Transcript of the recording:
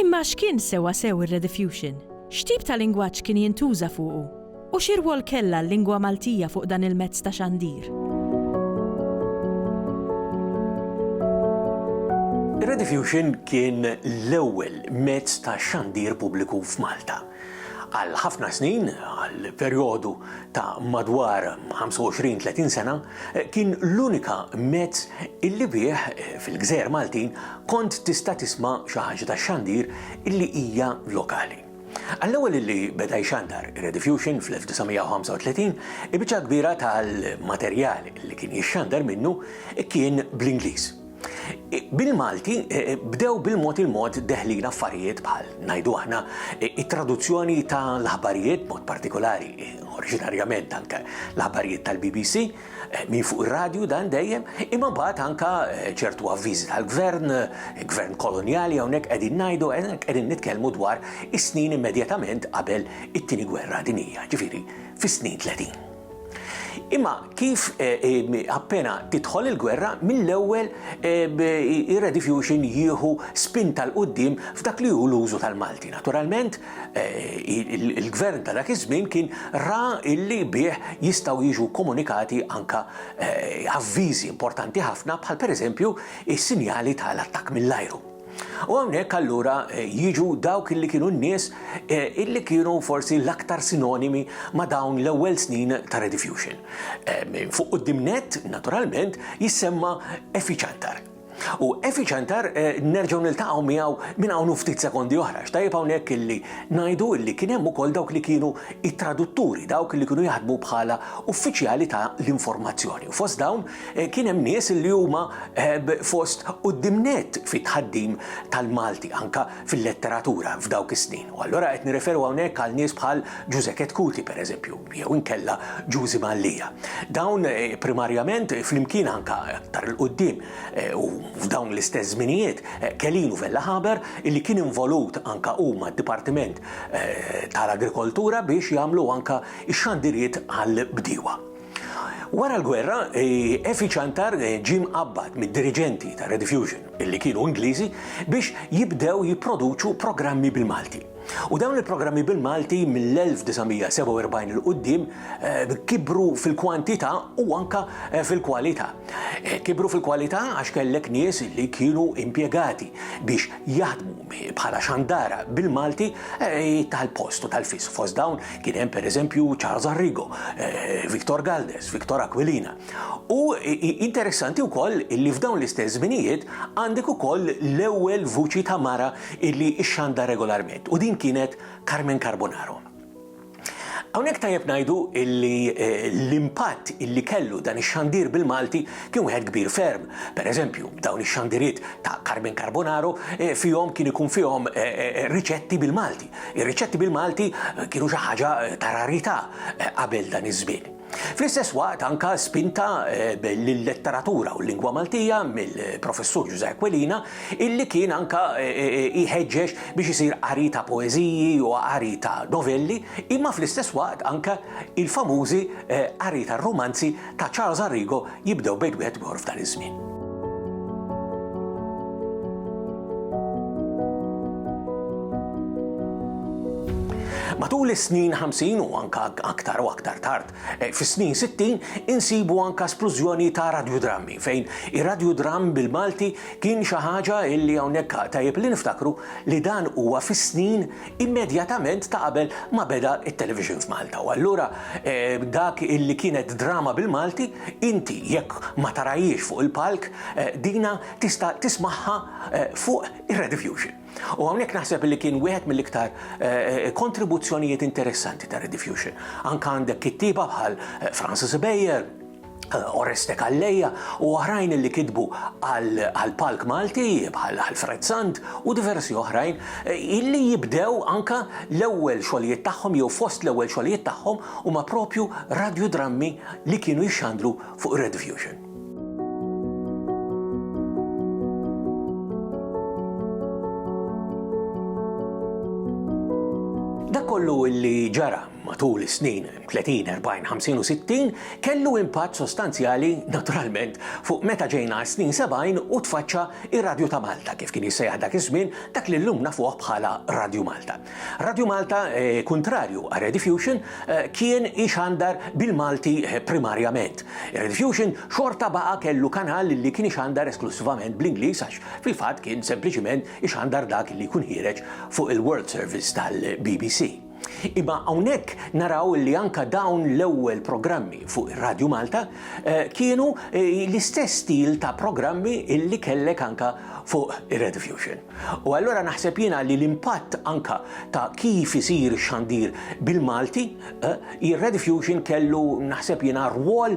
Imma x'kien sewwasew ir-rediffusion? X'tip ta' lingwaġġ kien jintuża fuqu? U xi rwol kellha l-lingwa Maltija fuq dan il-mezz ta' xandir? Ir-rediffusion kien l-ewwel mezz ta' xandir pubbliku f'Malta. Għal ħafna snin, għal perjodu ta' madwar 25-30 sena, Kien l-unika mezz illi bih, fil-gżejjer Maltin, kont tista' tisma' xi ħaġa tax-xandir illi hija lokali. Għall-ewwel illi beda jxandar Rediffusion fl-1935, il-biċċa l-kbira tal-materjal illi kien jixxandar minnu kien bl-Ingliż. Bil-Malti bdew bil-mod il-mod deħlin affarijiet bħal, ngħidu aħna, it-traduzzjoni ta' l-aħbarijiet b'mod partikolari, oriġinarjament anke l-aħbarijiet tal-BBC, minn fuq ir-radju dan dejjem, imma mbagħad anke ċertu avviżi tal-gvern, gvern kolonjali hawnhekk qegħdin ngħidu qegħdin nitkellmu dwar is-snin immedjatament qabel it-Tieni Gwerra Dinjija, ġifieri fis-snin 30. Imma kif appena tidħol il-gwerra, mill-ewwel ir-Rediffusion jieħu spinta l-quddiem f'dak li hu l-użu tal-Malti. Naturalment, il-gvern ta' dak iż-żmien kien ra illi bih jistgħu jiġu komunikati anke avviżi importanti ħafna bħal pereżempju is-sinjali tal-attakk mill-ajru. U hawnhekk allura jiġu dawk illi kienu n-nies illi kienu forsi l-aktar sinonimi ma' dawn l-ewwel snin ta' Rediffusion. Fuq quddiem nett, naturalment, jissemma Effie Ciantar. U Effie Ciantar nerġgħu niltaqgħu miegħu minn hawn u ftit sekondi oħra, għax tajjeb hawnhekk illi ngħidu illi kien hemm ukoll dawk li kienu t-tradutturi, dawk illi kienu jaħdmu bħala uffiċjali ta' l-informazzjoni, u fost dawn Kien hemm nies li huma fost quddiem nett fit-tħaddim tal-Malti anke fil-letteratura f'dawk is-snin. U allura qed nirreferu hawnhekk għal nies bħal Ġużè Chetcuti, pereżempju, jew inkella Ġużi Mallia. Dawn primarjament, flimkien anke aktar 'l quddiem u f'dawn l-istess żminijiet, Kelin u Vella Haber, illi kien involut anke hu mad-Dipartiment tal-Agrikoltura biex jagħmlu anke x-xandiriet għall-bdiewa. Wara l-gwerra, Effie Ciantar ġie mqabbad mid-diriġenti ta' Rediffusion, illi kienu Ingliżi, biex jibdew jipproduċu programmi bil-Malti. U dawn il-programmi bil-Malti mill-1947 'il quddiem kibru fil-kwantità u anke fil-kwalità. Kibru fil-kwalità għax kellek nies li kienu impjegati biex jaħdmu bħala xandara bil-Malti tal-post u tal-fis. Fost dawn kien hemm pereżempju Charles Arrigo, eh, Victor Galdes, Victor Aquilina. U interessanti wkoll li f'dawn l-istess żminijiet għandek ukoll l-ewwel vuċi ta' mara illi xxanda regolarment u din kienet Carmen Carbonaro. Hawnhekk tajjeb ngħidu li l-impatt li kellu dan ix-xandir bil-Malti kien wieħed kbir ferm. Pereżempju, dawn ix-xandiriet ta' Carmen Carbonaro fihom kien ikun fihom riċetti bil-Malti. Ir-riċetti bil-Malti kienu xi ħaġa ta' rarità qabel dan iż-żmien. Fl-istess waqt anke spinta lil-letteratura u l-lingwa Maltija mill-Professur Ġużè Aquilina illi kien anke jħeġġeġ biex isir qari ta' poeżiji u qari ta' novelli imma fl-istess waqt anke il-famużi qari tar-rumanzi ta' Charles Arrigo jibdew bejt wieħed u ieħor f'dan iż-żmien. Matul is-snin 50 u anka aktar u aktar tard, eh, fis-snin 60 insibu anka splużjoni ta' radiodrammi fejn ir-radiodramm bil-Malti kien xi ħaġa illi hawnhekk tajjeb li niftakru li dan huwa fis-snin immedjatament ta' qabel ma beda it-Televisions Malta u allura eh, dak illi kienet drama bil-Malti inti jekk ma tarajiex fuq il-palk eh, dina tista' tismaħħa eh, fuq ir-Rediffusion. U hawnhekk naħseb li kien wieħed mill-iktar kontribuzzjonijiet interessanti ta' Rediffusion. Anka għandek kittieba bħal Francis Bayer, Oreste Calleja u oħrajn li kitbu għal palk Malti bħal Alfred Sant u diversi oħrajn illi jibdew anka l-ewwel xogħlijiet tagħhom jew fost l-ewwel xogħlijiet tagħhom huma propju radjudrammi li kienu jixxandru fuq Red Fusion. Dak kollu illi ġara matul is-snin 30, 40, 50 u 60 kellu impatt sostanzjali naturalment fuq meta ġejna għas-snin 70 u tfaċċa r-Radju ta' Malta kif kien jissejjaħ dak iż-żmien, dak li llum nafuh bħala Radju Malta. Radju Malta, kuntrarju għal Rediffusion, kien ixandar bil-Malti primarjament. Rediffusion xorta baqa' kellu kanal li kien ixandar esklussivament bl-Ingliż għax fil-fatt kien sempliċement ixandar dak li jkun ħiereġ fuq il-World Service tal-BBC. Imma hawnhekk naraw li anke dawn l-ewwel programmi fuq ir-Radju Malta kienu l-istess stil ta' programmi illi kellek anke fuq ir-Radio Fusion. U allura naħseb jiena li l-impatt anke ta' kif isir ix-xandir bil-Malti, ir-Radio Fusion kellu naħseb jiena rwol